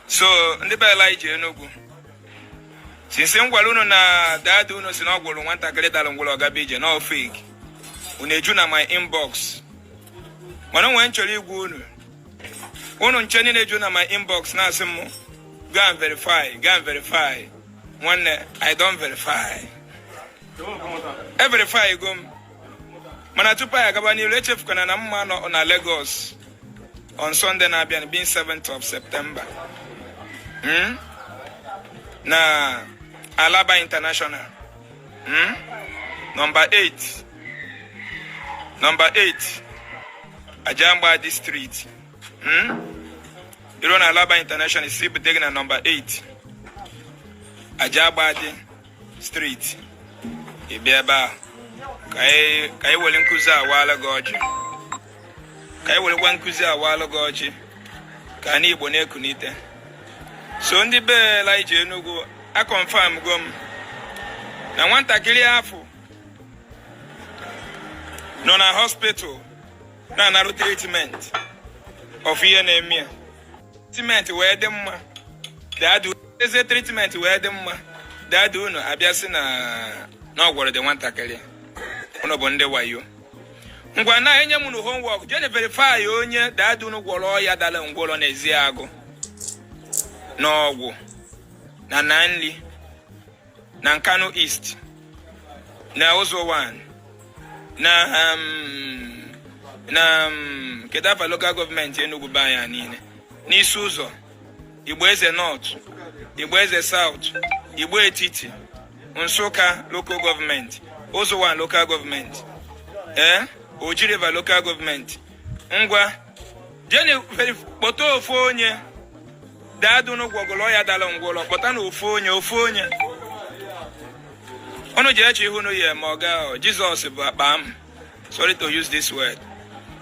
so ndị be Elijah Enugu since m gwara unu na daddy unu si na ọ gwọrọ nwatakịrị dara ngwọrọ ọ gaba ije na ọ fake unu eju na my inbox mana nwee m chọrọ ịgwa unu unu ncha niile eju na my inbox na-asị m go and verify go and verify nwanne I don verify everifygo m mana tupu anyị agaba n'iru echefukwana na m ma-anọ na Lagos on Sunday na-abịa being 7th of September hmm? na Alaba International hmm? nọmba 8 nọmba 8 Ajangbadi street hmm? i ru na Alaba International ị sị bute gị na nọmba 8 Ajangbadi street ị bịa ebe a ka i were nkụzi a waala gị ọjị ka i werekwa nkụzi a waala gị ọjị ka anị Igbo na-ekunite so ndị be Elijah Enugu aconfirmgo m na nwatakịrị afụ nọ na hospital na-anarụ treatment of ihe na-eme ya treatment wee dị mma daddy eze treatment wee dị mma daddy unu abịa sị na ọ gwọrọ the nwatakịrị unu bụ ndị wayo ngwanụ enye m unu homework jeenụ verify onye daddy unu gwọrọ ọya dara ngwọrọ n'Ezeagu n'Awgu na Aninri na nkanu east na ụzọ 1 na um, na um, kedu afa lokal gọọmenti Enugu be anya niile n'isi ụzọ igbo eze nọt igbo eze saut igbo etiti nsụka lokal gọọmenti ụzọ 1 lokal gọọmenti ee eh? ojiriva lokal gọọmenti ngwa jeenụ kpọta ofu onye daddy unu gwọgolu ọya dala ngwọlọ kpọtanụ ofu onye ofu onye unu ji eche ihu nu ya ma ọ gaa Jesus bụ akpa amụ sorry to use this word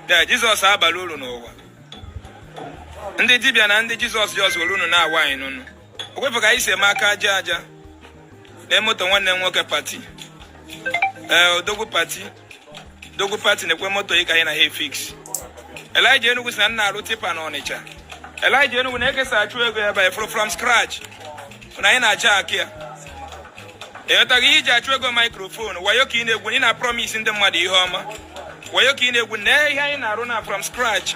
ee Jesus abalọ uru n'ụwa ndị dibịa na ndị Jesus ji ọzọ unu na-awa anyị n'unu okwefe ka anyị si eme aka aja aja na moto nwanne m nwoke pati ee eh, odogwu pati odogwu pati na-ekwe moto ị ka anyị na ha fix Elijah Enugu sị na m na-arụ tipper na Ọnịcha Elijah Enugu na-ekesa achụ ego ya by from scratch na anyị na-aja akị ya ịghọtaghị ihe i ji achụ ego microphone wayo ka ị na-egwu ị na-promise ndị mmadụ ihe ọma wayo ka ị na-egwu na ihe anyị na-arụ na from scratch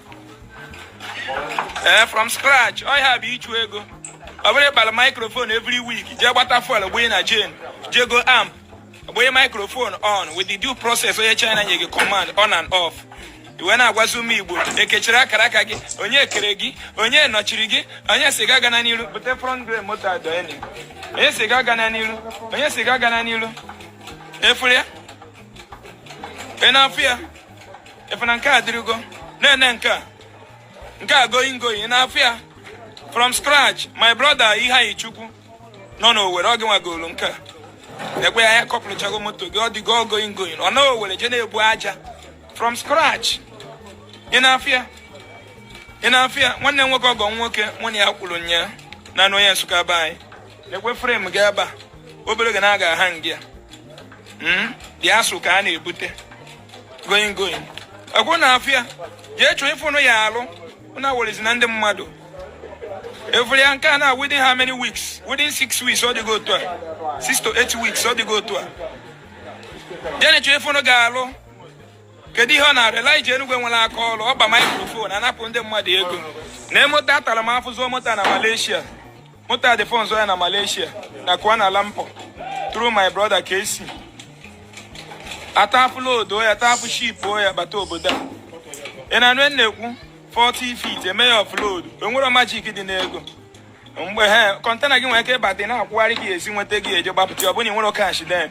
ee eh, from scratch ọ ya bụ ịchụ ego ọ bụrọ ịkpara microphone every week jee gbata fuel gbanye na jen jee go amp gbanye microphone on with the due process onye China nye gị command on and off ị wee na-agwazi ụmụ Igbo ekechiri akara aka gị onye kere gị onye nọchiri gị onye sị gị agana n'iru bute front grade moto adọeni onye sị gị agana n'iru onye sị gị agana n'iru ị fụrụ ya ị na-afụ ya ị fụ na nke a dịrịgo nene nke a nke a going going ị na-afụ ya from scratch my brother Iheanyi Chukwu nọ n'Owere ọ gị nwa golu nke a lekwe ya a kọpụlụchago moto gị ọ dịgo going going ọ na Owere jee na-ebu aja from scratch ị na-afụ ya ị na-afụ ya nwanne nwoke ọgọ nwoke mụ na ya kwuru nya na anụ onye Nsụka be anyị lekwe frem gị ebe a obere ga na-aga aha ngị ya hmm? dị Nsụka a na-ebute going going ekwu ị na-afụ ya jee chọọ ife ụnụ ya-alụ na werezi na ndị mmadụ ị fụrụ ya nke a na within how many weeks within six weeks ọ dịgo otu a six to eight weeks ọ dịgo otu a jee na chọọ ife ụnụ ga-alụ kedu ihe ọ na-arụ Elijah Enugu nwere aka ọrụ ọ pa microphone anapụ ndị mmadụ ego na moto atara m afụ zụ moto na Malaysia Moto a dị fọnzọ ya na Malaysia na Kuala Lumpur through my brother KC. Atapụ load ya tapụ ship ya bata obodo a. Ị na-anụ e na-ekwu 40 feet eme ya offload enwere majik dị n'ego mgbe ahụ kọntena gị nwere ike ịbata na-akwụgharị gị esi nweta gị eje gbapụta ọ bụrụ na ị nwere kash den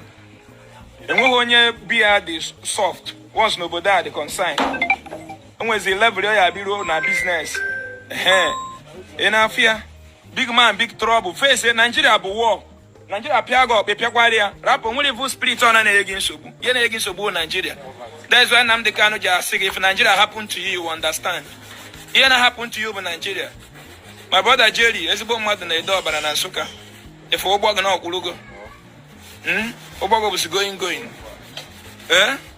enweghị onye be ya dị soft once n'obodo a dị concern enwezi level ị ya-abịaru na biznes ị na-afụ ya big man big trouble face Nigeria bụ war Nigeria pịa gị ọkpọ ị pịakwara ya rapụ nwere evil spirit ọ na-enye gị nsogbu ihe na-enye gị nsogbu Nigeria that's why Nnamdi Kanu ji asị gị if Nigeria happen to you you understand ihe na happen to you bụ Nigeria my brother Jerry ezigbo mmadụ na Ede Ọbala na Nsụka ị fụ ụgbọ gị na ọ kwụrụgo hmm? ụgbọ gị bụzi going going ee eh?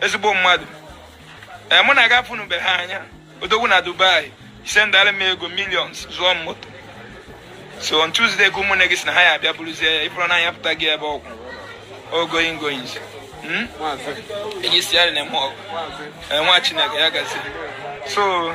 ezigbo mmadụ ee eh, mụ na gị afụnubeghị anya odogwu na Dubai sendara m ego millions zụọ m moto so on Tuesday ka ụmụnne gị si na ha ya abịa buruzie ya ị fụrụ na anya pụta gị ebe ọ kwụ going going hmm? onye sị ya na-eme ọgwụ eh, nwa chineke ya gazi so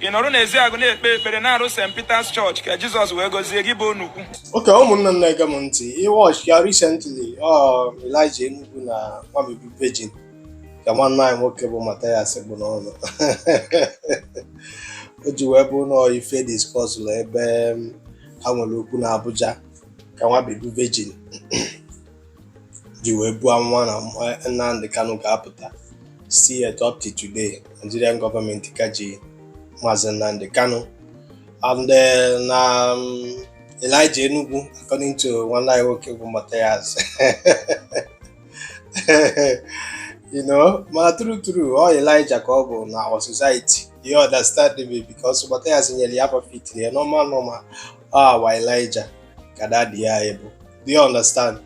ị nọrọ n'Eziagụ na-ekpe ekpere na-arụ St. Peter's Church ka Jizọs wee gọzie gị bụ onukwu oke ụmụnna m na-ege m ntị ị wọch ya recently um, Elijah Enugu na nwa Obi bụ virgin ka nwanne anyị nwoke bụ Mathias bụ n'ọnụ o ji wee bụ nọọ ife diskọsụlụ ebe um, ha nwere okwu na Abuja ka nwa Obi bụ virgin ji wee buo amụma na Nnamdi Kanu ga-apụta still yet up to today Nigerian gọọmenti ka ji maazị Nnamdi Kanu and eh, na mm, Elijah Enugu according to nwanne anyị nwoke bụ Mathias you know ma true true ọ Elijah ka ọ bụ na our society you understand me because Mathias nyere ya afa fitiri ya normal normal ọ awa Elijah ka dadi ya bụ Do you understand?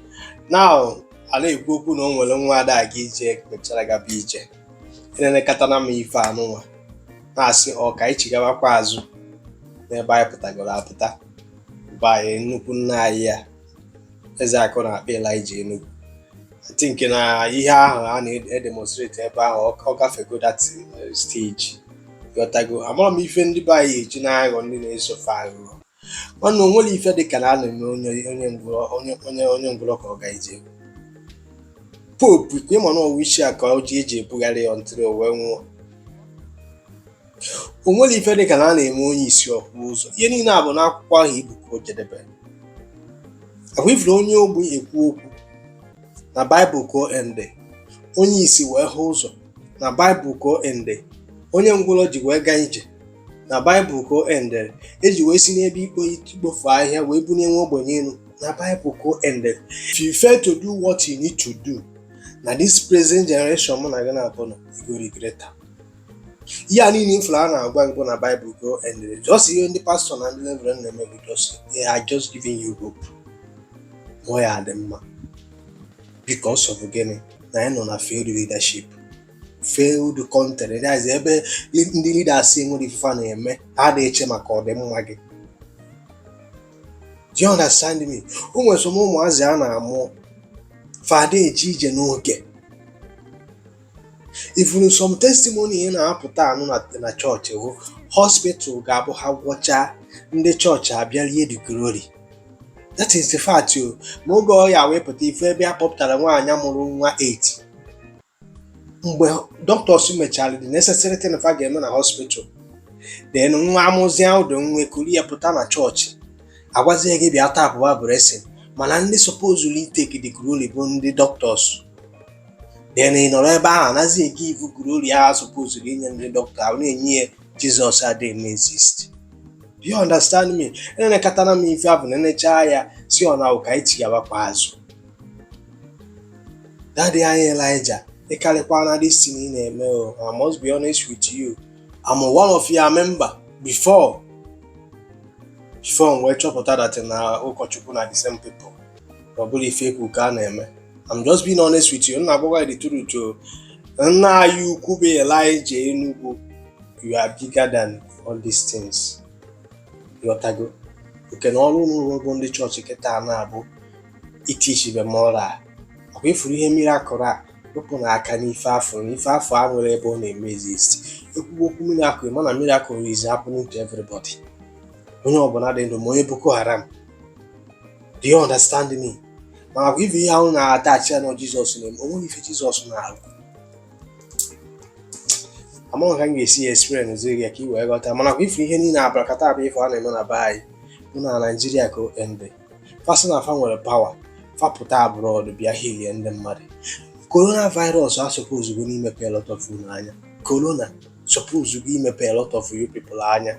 Now, a na-ekwu okwu na o nwere nwa ada aga ije mechara gaba ije enenekatana m ife anụnwa na-asị ọ ka anyị chigabakwa azụ n'ebe anyị pụtagoro apụta bụ anyị nnukwu nna anyị ya Ezeaku na-akpọ Elijah Enugu I think na ihe ahụ a na-edemonstrate ebe ahụ ọ gafego that eh, stage ị ghọtago amarọ m ife ndị be anyị eji na-aghọ ndị na-eso fa aghụghọ nwanne o nwere ife dị ka na a na-eme onye onye ngwụrọ onye onye onye ngwụrọ ka ọ gaa ije Pope ka ị ma na ọ wheelchair ka o ji eji ebugharị ya until o wee nwụọ o nwere ife dị ka na a na-eme onye isi ọ hụ ụzọ ihe niile a bụ n'akwụkwọ ahụ i bu ka o jedebe ahụ ị fụrụ onye ogbi ekwu okwu na baịbụl ka o ende onye isi wee hụ ụzọ na baịbụl ka o ende onye ngwụrọ ji wee gaa ije na baịbụl ka o endere eji wee si n'ebe ikpo ikpofu ahịhịa wee bunye nwa ogbenye elu na baịbụl ka o endere if you fail to do what you need to do na this present generation mụ na gị naabọ nọ you go regret am ihe a niile ị fụrụ a na-agwa gị bụ na baịbụl ka o endere just ihe ndị pastọ na ndị reverend na-eme bụ just they are just giving you hope ọ ya dị mma because of gịnị na anyị nọ na failed leadership failed country that is ebe ndị leaders enwerọ ife fa na-eme ha ada eche maka ọdịmma gị do you understand me o nwere some ụmụazị a na-amụ fa ada eje ije n'oge ị fụrụ some testimony ị na-apụta anụ na chọọchị ahụ hospital ga-abụ ha gwọcha ndị chọọchị abịa rie the glory that is the fact o ma oge ọ ya wepụta ife ebe a kpọpụtara nwaanyị mụrụ nwa 8 mgbe dọkịtọs mechara the necessary thing fa ga-eme na hospital then nwa amụzi ahụ ndị nwe ekuru ya pụta na chọọchị agwazie gị bịa tapụba blessing mana ndị supozuru iteki the glory bụ ndị dọkịtọs then ị nọrọ ebe ahụ anazi egivu glory ahụ supozuru inye ndị dọkịta ahụ na-enye ya Jizọs adịghị exist do you understand me enenekatana m ife a bụ nenechaa ya sị na ọ ka anyị chigawakwa azụ Daddy anyị Elijah, ị karịkwana this thing ị na-eme o. I must be honest with you. I'm one of your member before. Before m wee chọpụta that na ụkọchukwu na the same people. Ọ bụrụ fake ụka a na-eme. I'm just being honest with you. M na-agwa gị the truth o. Nna anyị ukwu bụ Elijah Enugu. You are bigger than all these things. Ị ghọtago? Nke na ọrụ unu bụ ndị chọọchị kịta na-abụ itichibe moral ọkwa ifuru ihe miracle a wepụ na aka n'ife afụ na ife afụ enwerọ ebe ọ na-eme exist ekwugo okwu miracle mana miracle is happening to everybody onye ọbụla dị ndụ ma onye boko haram do you understand me ma ọkwa ifu ihe ahụ na-attach ya na jizọs na-eme o nweghị ife jizọs na-arụ amaghị ka m ga-esi ya experience ziri ya ka ị wee ghọta mana ọkwa ifu ihe niile abracadabra ife a na-eme na be anyị bụ naijiria ka o ende fa sị na fa nwere pawa fa pụta abroad bịa hilie ndị mmadụ korona virus asupposugo imepe a lot of unu anya korona supposugo imepe a lot of you people anya